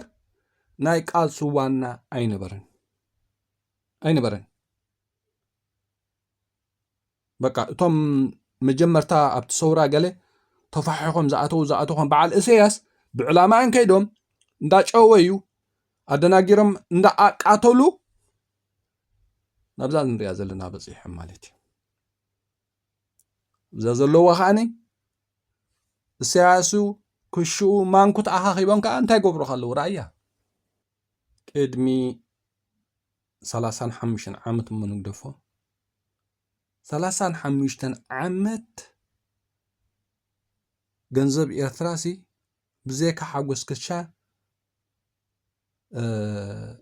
ናይ ቃልሲ ዋና ኣይነበረን ኣይነበረን በቃ እቶም መጀመርታ ኣብቲ ሰውራ ገለ ተፋሒኾም ዝኣተው ዝኣተኾም በዓል እሰያስ ብዕላማን ከይዶም እንዳጨወዩ ኣደናጊሮም እንዳኣቃተሉ ናብዛ ንሪኣ ዘለና በፂሖም ማለት እዩ እዛ ዘለዎ ከዓኒ እሰያሱ ክሽኡ ማንኩት ኣኻኺቦም ከዓ እንታይ ገብሩካ ኣለዉ ራእያ ቅድሚ ሰላሳን ሓሙሽተን ዓመት እሞ ንግደፎ ሰላሳን ሓሙሽተን ዓመት ገንዘብ ኤርትራሲ ብዘይካ ሓጎስ ክሻ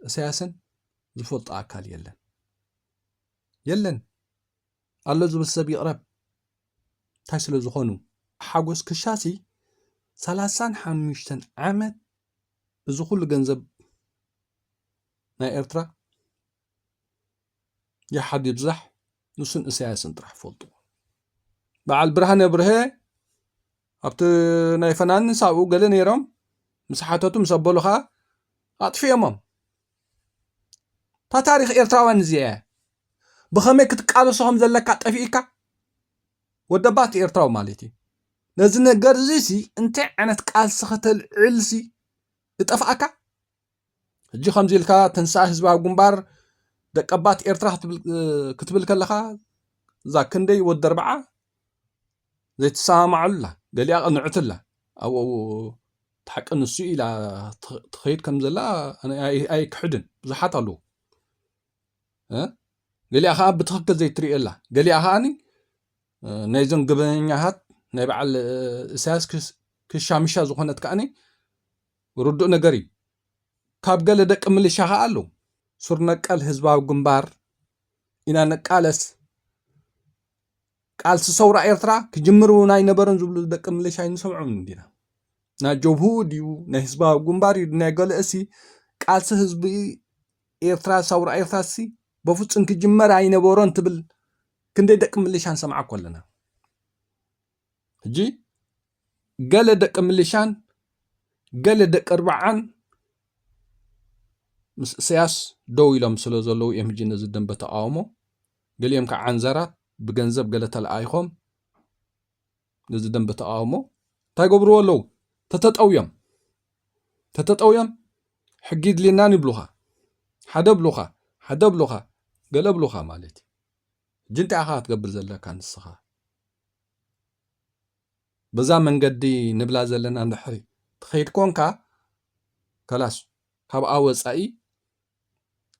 እሰያስን ዝፈልጦ ኣካል የለን የለን ኣሎ ዝብል ሰብ ይቕረብ እንታይ ስለ ዝኾኑ ሓጎስ ክሻሲ ሰላሳን ሓሙሽተን ዓመት እዚ ኩሉ ገንዘብ ናይ ኤርትራ ይሓድ ይብዛሕ ንሱን እሰያስን ጥራሕ ፈልጥዎ በዓል ብርሃነ ብርሀ ኣብቲ ናይ ፈናንን ሳብኡ ገለ ነይሮም ምስ ሓተቱ ምስ ኣበሉ ከዓ ኣጥፊኦሞም እታ ታሪክ ኤርትራውያን እዚኣ እያ ብኸመይ ክትቃለሶ ከም ዘለካ ጠፊእካ ወደባት ኤርትራዊ ማለት እዩ ነዚ ነገር እዚ ሲ እንታይ ዓይነት ቃልሲ ከተልዕልሲ እጠፍኣካ ሕጂ ከምዚ ኢልካ ተንሳእ ህዝባዊ ግንባር ደቀባት ኤርትራ ክትብል ከለኻ እዛ ክንደይ ወዲ ኣርብዓ ዘይትሰማማዓሉ ኣላ ገሊኣ ቅንዕቲ ኣላ ኣብኡ እቲ ሓቂ ንሱ ኢላ ትኸይድ ከም ዘላ ኣይክሕድን ብዙሓት ኣለዉ ገሊኣ ከዓ ብትኽክል ዘይትሪኦ ኣላ ገሊኣ ከዓኒ ናይዞም ግበኛሃት ናይ በዓል እሳያስ ክሻምሻ ዝኾነት ከዓኒ ርዱእ ነገር እዩ። ካብ ገለ ደቂ ምልሻ ከኣ ኣለው። ሱር ነቀል ህዝባዊ ግንባር ኢና ንቃለስ፣ ቃልሲ ሰውራ ኤርትራ ክጅምር እውን ኣይነበረን ዝብሉ ደቂ ምልሻ ኣይንሰምዖም እንዲና። ናይ ጀብሁ ድዩ ናይ ህዝባዊ ግንባር እዩ ናይ ገለእሲ ቃልሲ ህዝቢ ኤርትራ ሰውራ ኤርትራሲ በፍጹም ክጅመር ኣይነበሮን ትብል ክንደይ ደቂ ምልሻ ንሰምዓ እኮ ኣለና። ሕጂ ገለ ደቂ ምልሻን ገለ ደቂ ኣርብዓን ምስ እሰያስ ደው ኢሎም ስለ ዘለዉ እዮም ሕጂ ነዚ ደንበ ተቃውሞ ገሊኦም ከዓ ዓንዘራት ብገንዘብ ገለ ተለኣይኾም ነዚ ደንበ ተቃውሞ እንታይ ገብርዎ ኣለዉ ተተጠውዮም ተተጠውዮም ሕጊ ድልናን ይብሉኻ ሓደ ብሉኻ ሓደ ብሉኻ ገለ ብሉኻ ማለት እዩ ሕጂ እንታይ ኢኻ ክትገብር ዘለካ ንስኻ በዛ መንገዲ ንብላ ዘለና እንድሕሪ ትኸይድ ኮንካ ከላስ ካብኣ ወፃኢ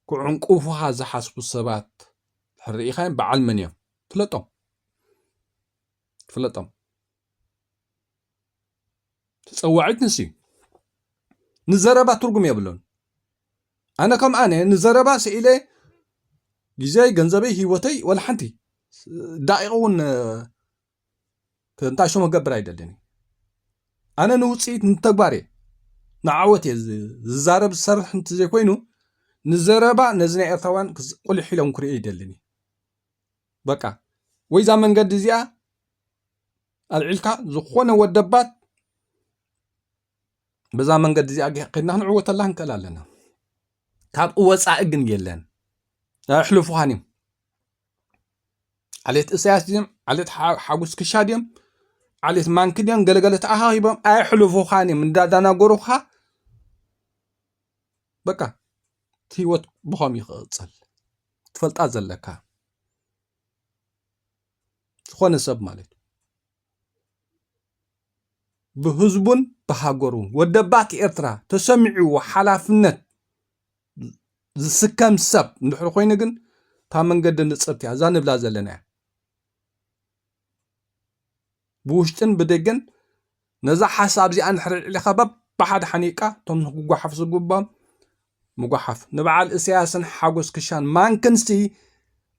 ክዕንቁፉኻ ዝሓስቡ ሰባት ድሕሪ ርኢኻዮም በዓል መን እዮም ፍለጦም ፍለጦም ተጸዋዒት ንሱ እዩ። ንዘረባ ትርጉም የብሉን። ኣነ ከም ኣነ ንዘረባ ስኢለ ግዜይ፣ ገንዘበይ፣ ህይወተይ ወላ ሓንቲ ዳቂቕ እውን እንታይ ሽሙ ክገብር ኣይደልን። ኣነ ንውፅኢት ንተግባር እየ ንዓወት እየ ዝዛረብ ዝሰርሕ እንተዘይኮይኑ ንዘረባ ነዚ ናይ ኤርትራውያን ቁሊሕ ኢሎም ክርእዩ ይደልን እዩ። በቃ ወይ እዛ መንገዲ እዚኣ ኣልዒልካ ዝኾነ ወደባት በዛ መንገዲ እዚኣ ከድና ክንዕወተላ ክንክእል ኣለና ካብኡ ወፃኢ ግን የለን ኣሕልፉኻን እዮም ዓሌት እሳያስ ድዮም ዓሌት ሓጉስ ክሻ ድዮም ዓሌት ማንኪ ድዮም ገለገለ ተኣኻኺቦም ኣየሕልፉኻን እዮም እንዳዳናገሩኻ በቃ እቲ ህይወት ብኸም ይኽቕፅል ትፈልጣ ዘለካ ዝኾነ ሰብ ማለት እዩ ብህዝቡን ብሃገሩን ወደባት ኤርትራ ተሰሚዕዎ ሓላፍነት ዝስከም ሰብ እንድሕር ኮይኑ ግን እታ መንገዲ ንፅርቲ እያ እዛ ንብላ ዘለና እያ ብውሽጥን ብደገን ነዛ ሓሳብ እዚኣ እንድሕር ኣልዒልካ በብሓደ ሓኒቕካ እቶም ክጓሓፉ ዝግብኦም ምጉሓፍ ንበዓል እሰያስን ሓጎስ ክሻን ማንክንሲ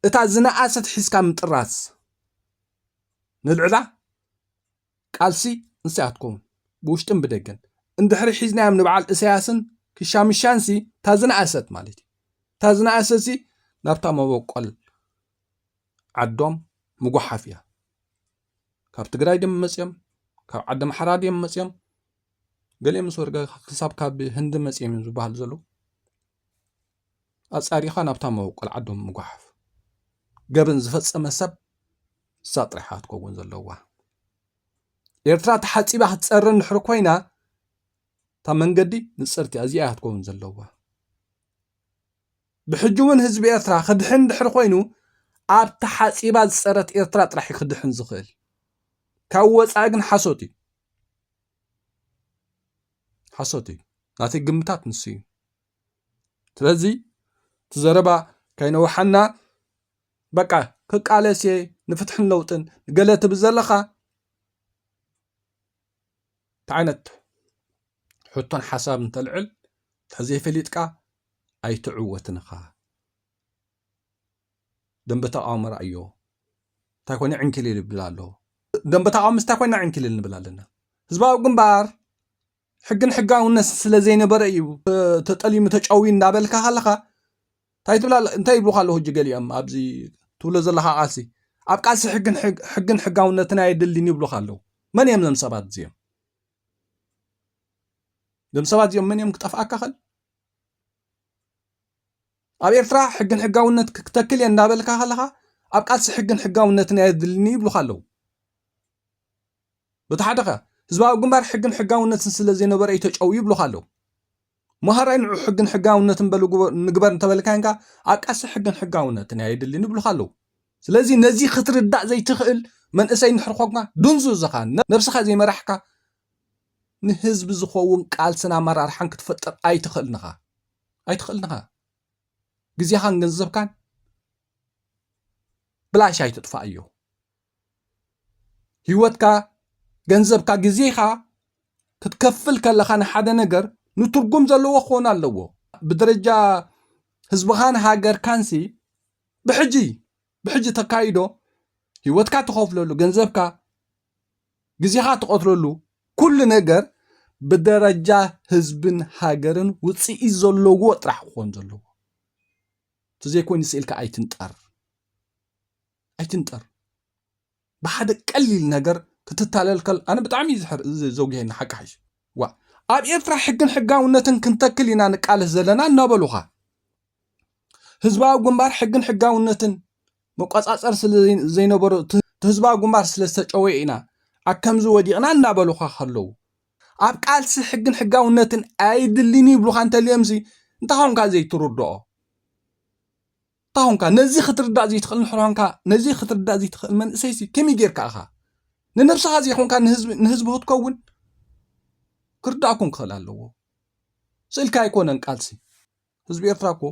እታ ዝነኣሰት ሒዝካ ምጥራዝ ንልዕላ ቃልሲ እንስያ ትከውን ብውሽጥን ብደገን እንድሕሪ ሒዝናዮም ንበዓል እሰያስን ክሻምሻንሲ እታ ዝነኣሰት ማለት እዩ እታ ዝነኣሰሲ ናብታ መበቆል ዓዶም ምጉሓፍ እያ ካብ ትግራይ ድም መፅኦም ካብ ዓዲ ኣምሓራ ድም መፅኦም ገሊኦም ምስ ወርገ ክሳብ ካብ ህንዲ መፅኦም እዮም ዝበሃል ዘለዉ ኣፃሪኻ ናብታ መበቆል ዓዶም ምጉሓፍ ገበን ዝፈፀመ ሰብ እሳ ጥራሓ ክትከውን ዘለዋ ኤርትራ ተሓፂባ ክትፀሪ እንድሕሪ ኮይና እታ መንገዲ ንፅርቲ እዚኣ ክትከውን ዘለዋ ብሕጂ ውን ህዝቢ ኤርትራ ክድሕን ድሕሪ ኮይኑ ኣብ ተሓጺባ ዝጸረት ኤርትራ ጥራሕ ዩ ክድሕን ዝኽእል ካብ ወጻኢ ግን ሓሶት ዩ ሓሶት ዩ ናተይ ግምታት ንሱ ዩ ስለዚ እቲ ዘረባ ከይነውሓና በቃ ክቃለስ እየ ንፍትሕን ለውጥን ገለ ትብል ዘለኻ እንታይ ዓይነት ሕቶን ሓሳብ እንተልዕል ተዘይፈሊጥካ ኣይትዕወትን ኢኻ ደንበ ተቃውሞ ርኣዮ እንታይ ኮነ ዕንኪሊል ይብል ኣሎ ደንበ ተቃውሞ ምስታይ ኮይና ዕንኪሊል ንብል ኣለና ህዝባዊ ግንባር ሕግን ሕጋውነት ስለ ዘይነበረ እዩ ተጠሊሙ ተጨውዩ እንዳበልካ ከለኻ እንታይ ትብል ኣለ እንታይ ይብሉኻ ኣለዉ ሕጂ ገሊኦም ኣብዚ ትብሎ ዘለኻ ቃልሲ ኣብ ቃልሲ ሕግን ሕግን ሕጋውነትን ኣየድልን ይብሉኻ ኣለዉ መን እዮም ዘም ሰባት እዚኦም ዘም ሰባት እዚኦም መን እዮም ክጠፍኣካ ኸል ኣብ ኤርትራ ሕግን ሕጋውነት ክተክል እየ እንዳበልካ ከለኻ ኣብ ቃልሲ ሕግን ሕጋውነትን ኣየድልኒ ይብሉኻ ኣለዉ በቲ ሓደ ከ ህዝባዊ ግንባር ሕግን ሕጋውነትን ስለ ዘይነበረ እዩ ተጨውዩ ይብሉኻ ኣለው። መሃራይ ንዑ ሕግን ሕጋውነትን በሉ ንግበር እንተበልካዮን ከኣ ኣቃሲ ሕግን ሕጋውነትን እያ የድልን ይብሉኻ ኣለው። ስለዚ ነዚ ክትርዳእ ዘይትኽእል መንእሰይ እንድሕር ኾንካ ድንዙዝ ኢኻ፣ ነብስኻ ዘይመራሕካ ንህዝቢ ዝኸውን ቃልስን ኣመራርሓን ክትፈጥር ኣይትኽእልን ኢኻ ኣይትኽእልን ኢኻ ግዜኻን ገንዘብካን ብላሽ ኣይትጥፋኣዮ። ህይወትካ፣ ገንዘብካ፣ ግዜኻ ክትከፍል ከለኻ ንሓደ ነገር ንትርጉም ዘለዎ ክኾን ኣለዎ። ብደረጃ ህዝብኻን ሃገርካንሲ ብሕጂ ብሕጂ ተካይዶ ህይወትካ ትኸፍለሉ፣ ገንዘብካ፣ ግዜኻ ትቐትለሉ ኩሉ ነገር ብደረጃ ህዝብን ሃገርን ውፅኢት ዘለዎ ጥራሕ ክኾን ዘለዎ። እቲ ዘይኮይኑ ስኢልካ ኣይትንጠር። ኣይትንጠር ብሓደ ቀሊል ነገር ክትታለል ከል ኣነ ብጣዕሚ እዩ ዝሕር ዝ- ዘጉሄኒ ሓቂ ሓይሽ ዋ ኣብ ኤርትራ ሕግን ሕጋውነትን ክንተክል ኢና ንቃለስ ዘለና እናበሉኻ ህዝባዊ ግንባር ሕግን ሕጋውነትን መቆጻጸር ስለ ዘይ- ዘይነበሮ እቲ እቲ ህዝባዊ ግንባር ስለ ዝተጨወየ ኢና ኣብ ከምዚ ወዲቕና እናበሉኻ ከለዉ ኣብ ቃልሲ ሕግን ሕጋውነትን ኣይድልን ይብሉኻ እንተልዮምሲ እንታይ ኾንካ ዘይትርድኦ እታ ኾንካ ነዚ ክትርዳእ ዘይትኽእል ንሕሮ ኾንካ ነዚ ክትርዳእ ዘይትኽእል መንእሰይሲ ከመይ ጌርካ ኢኻ ንነብስኻ ዘይኮንካ ንህዝቢ ንህዝቢ ክትከውን ክርዳእኩም ክኽእል ኣለዎ ስእልካ ኣይኮነን ቃልሲ ህዝቢ ኤርትራ እኮ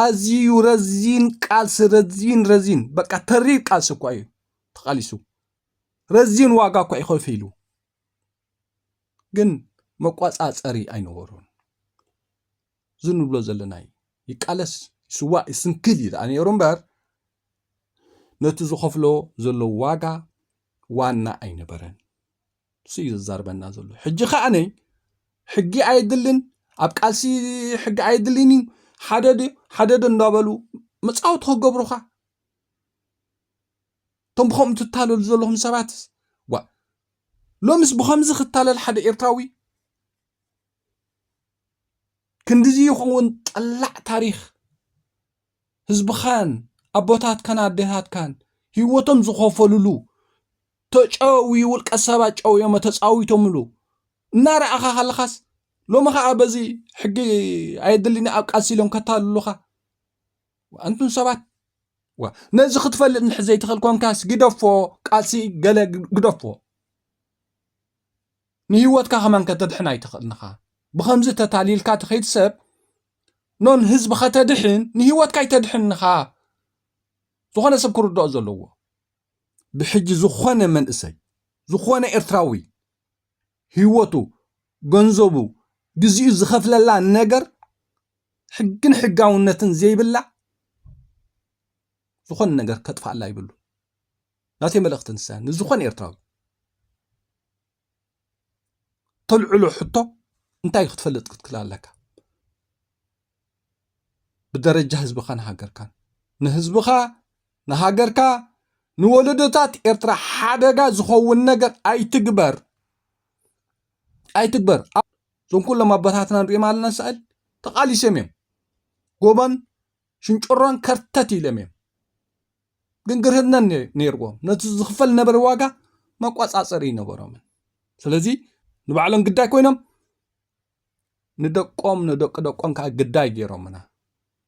ኣዝዩ ረዚን ቃልሲ ረዚን ረዚን በቃ ተሪር ቃልሲ እኳ እዩ ተቓሊሱ ረዚን ዋጋ እኳ እዩ ከፊሉ ግን መቋፃፀሪ ኣይነበሩን እዚ ንብሎ ዘለና እዩ። ይቃለስ፣ ይስዋእ፣ ይስንክል እዩ ደኣ ነይሩ እምበር ነቲ ዝኸፍሎ ዘሎ ዋጋ ዋና ኣይነበረን። እሱ እዩ ዘዛርበና ዘሎ። ሕጂ ከኣነይ ሕጊ ኣየድልን ኣብ ቃልሲ ሕጊ ኣየድልን እዩ ሓደ ድዩ ሓደ ዶ እንዳበሉ መፃወቲ ክገብሩኻ እቶም ብከምኡ ትታለሉ ዘለኹም ሰባት ዋ ሎምስ ብከምዚ ክታለል ሓደ ኤርትራዊ ክንድዚ ይኸውን ጠላዕ ታሪኽ ህዝብኻን ኣቦታትካን ኣዴታትካን ህይወቶም ዝኸፈልሉ ተጨዊ ውልቀ ሰባት ጨውዮሞ ተፃዊቶምሉ እናረኣኻ ከለኻስ ሎሚ ከዓ በዚ ሕጊ ኣየድልኒ ኣብ ቃልሲ ኢሎም ከታልሉኻ ኣንቱም ሰባት ነዚ ክትፈልጥ ንሕ ዘይትኽእል ኮንካስ ግደፎ ቃልሲ ገለ ግደፎ ንሂወትካ ከማን ከተድሕን ኣይትኽእልን ኢኻ ብኸምዚ ተታሊልካ ትኸይድ ሰብ ኖን ህዝቢ ከተድሕን ንሂወትካ ኣይተድሕን ኢኻ ዝኾነ ሰብ ክርድኦ ዘለዎ ብሕጂ ዝኾነ መንእሰይ ዝኾነ ኤርትራዊ ሂወቱ ገንዘቡ ግዚኡ ዝኸፍለላ ነገር ሕግን ሕጋውነትን ዘይብላ ዝኾነ ነገር ከጥፍኣላ ይብሉ ናተይ መልእኽቲ ንሳ ንዝኾነ ኤርትራዊ ተልዕሎ ሕቶ እንታይ እዩ ክትፈልጥ ክትክል ኣለካ ብደረጃ ህዝብኻን ሃገርካን ንህዝብኻ ንሃገርካ ንወለዶታት ኤርትራ ሓደጋ ዝኸውን ነገር ኣይትግበር ኣይትግበር እዞም ኩሎም ኣቦታትና ንሪኦም ኣለና ስዕል ተቓሊሶም እዮም ጎቦን ሽንጭሮን ከርተት ኢሎም እዮም ግንግርህነት ነይርዎም ነቲ ዝኽፈል ዝነበረ ዋጋ መቋፃፀሪ ኣይነበሮምን ስለዚ ንባዕሎም ግዳይ ኮይኖም ንደቆም ንደቂ ደቆም ከዓ ግዳይ ገይሮምና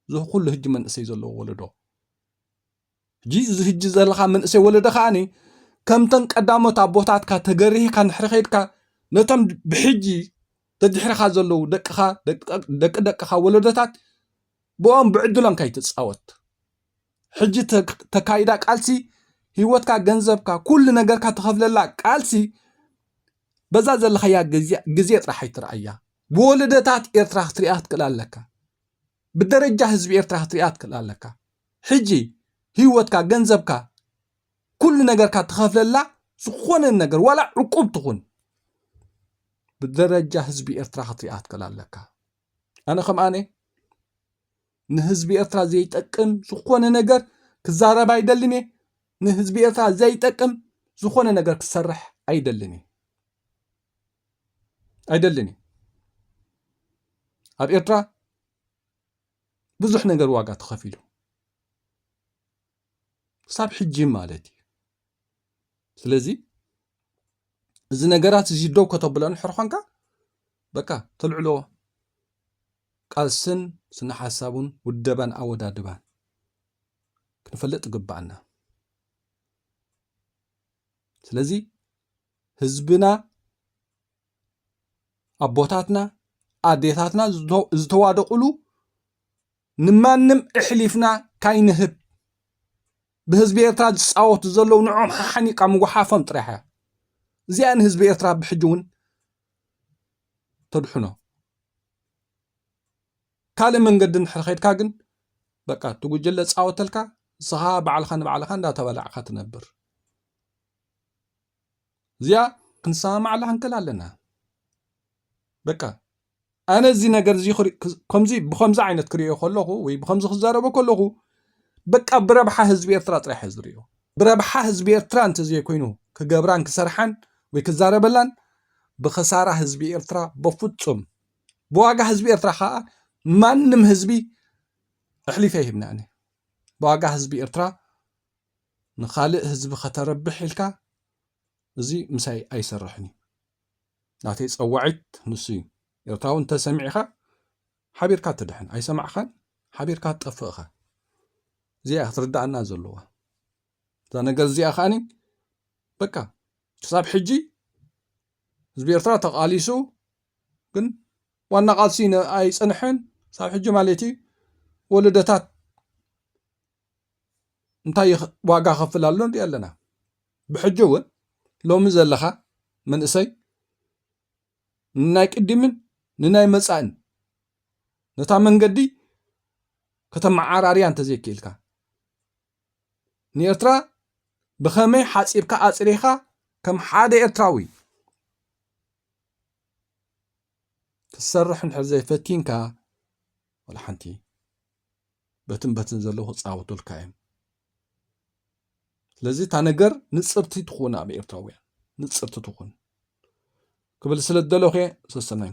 እዚ ኩሉ ህጂ መንእሰይ ዘለዎ ወለዶ ሕጂ እዚ ህጂ ዘለካ መንእሰይ ወለዶ ከዓኒ ከምተን ቀዳሞት ኣቦታትካ ተገሪህካ ንሕሪ ከይድካ ነቶም ብሕጂ ተድሕርካ ዘለዉ ደቅኻ ደቂ ደቅኻ ወለዶታት ብኦም ብዕድሎም ከይትፃወት ሕጂ ተካይዳ ቃልሲ ህይወትካ ገንዘብካ ኩሉ ነገርካ ተኸፍለላ ቃልሲ በዛ ዘለኻያ ግዜ ጥራሕ ኣይትርኣያ ብወለደታት ኤርትራ ክትሪኣ ክትክእል ኣለካ ብደረጃ ህዝቢ ኤርትራ ክትሪኣ ክትክእል ኣለካ ሕጂ ህይወትካ ገንዘብካ ኩሉ ነገርካ ተኸፍለላ ዝኾነ ነገር ዋላ ዕቁብ ትኹን ብደረጃ ህዝቢ ኤርትራ ክትሪኣ ክትክእል ኣለካ ኣነ ከምኣነ ንህዝቢ ኤርትራ ዘይጠቅም ዝኾነ ነገር ክዛረብ ኣይደልን እየ። ንህዝቢ ኤርትራ ዘይጠቅም ዝኾነ ነገር ክሰርሕ ኣይደልን እየ ኣይደልን እየ። ኣብ ኤርትራ ብዙሕ ነገር ዋጋ ተኸፊሉ ክሳብ ሕጂ ማለት እዩ። ስለዚ እዚ ነገራት እዚ ደው ከተብሎ ንሕር ኾንካ በቃ ተልዕሎ ቃልስን ስነሓሳቡን ውደባን ኣወዳድባን ክንፈልጥ ይግብኣና። ስለዚ ህዝብና ኣቦታትና ኣዴታትና ዝተዋደቑሉ ንማንም እሕሊፍና ካይንህብ ብህዝቢ ኤርትራ ዝፃወቱ ዘለዉ ንዖም ሓሓኒቃ ምጉሓፎም ጥራሕ እያ እዚኣ ንህዝቢ ኤርትራ ብሕጂ እውን ተድሕኖ። ካልእ መንገዲ እንድሕር ኸይድካ ግን በቃ እቲ ጉጅለ ፃወተልካ ንስኻ ባዕልኻ ንባዕልኻ እንዳተባላዕካ ትነብር እዚኣ ክንሰማማዕላ ክንክል ኣለና በቃ ኣነ እዚ ነገር እዚ ከምዚ ብከምዚ ዓይነት ክሪኦ ከለኹ ወይ ብከምዚ ክዛረበ ከለኹ በቃ ብረብሓ ህዝቢ ኤርትራ ጥራሕ እየ ዝሪኦ ብረብሓ ህዝቢ ኤርትራ እንተዘይኮይኑ ክገብራን ክሰርሓን ወይ ክዛረበላን ብኽሳራ ህዝቢ ኤርትራ በፍጹም ብዋጋ ህዝቢ ኤርትራ ከኣ ማንም ህዝቢ ኣሕሊፈ ይህብኒ ኣነ ብዋጋ ህዝቢ ኤርትራ ንኻልእ ህዝቢ ከተረብሕ ኢልካ እዚ ምሳይ ኣይሰርሕን እዩ ናተይ ጸዋዒት ንሱ እዩ ኤርትራዊ እንተሰሚዕኻ ሓቢርካ ትድሕን ኣይሰማዕካን ሓቢርካ ትጠፍእ እኻ እዚኣ እያ ክትርዳኣና ዘለዋ እዛ ነገር እዚኣ ከዓኒ በቃ ክሳብ ሕጂ ህዝቢ ኤርትራ ተቓሊሱ ግን ዋና ቃልሲ ኣይፅንሐን ክሳብ ሕጂ ማለት እዩ ወለደታት እንታይ ዋጋ ከፍል ኣሎ ንሪኦ ኣለና ብሕጂ እውን ሎሚ ዘለኻ መንእሰይ ንናይ ቅድምን ንናይ መጻእን ነታ መንገዲ ከተመዓራርያ እንተዘይክኢልካ ንኤርትራ ብኸመይ ሓጺርካ ኣጽሪኻ ከም ሓደ ኤርትራዊ ክትሰርሕ እንድሕር ዘይፈቲንካ ወላ ሓንቲ በትን በትን ዘለዉ ክጻወቱልካ እዮም ስለዚ እታ ነገር ንፅርቲ ትኹን ኣብ ኤርትራውያን ንፅርቲ ትኹን ክብል ስለ ዝደለኹ እየ ሰሰናዩ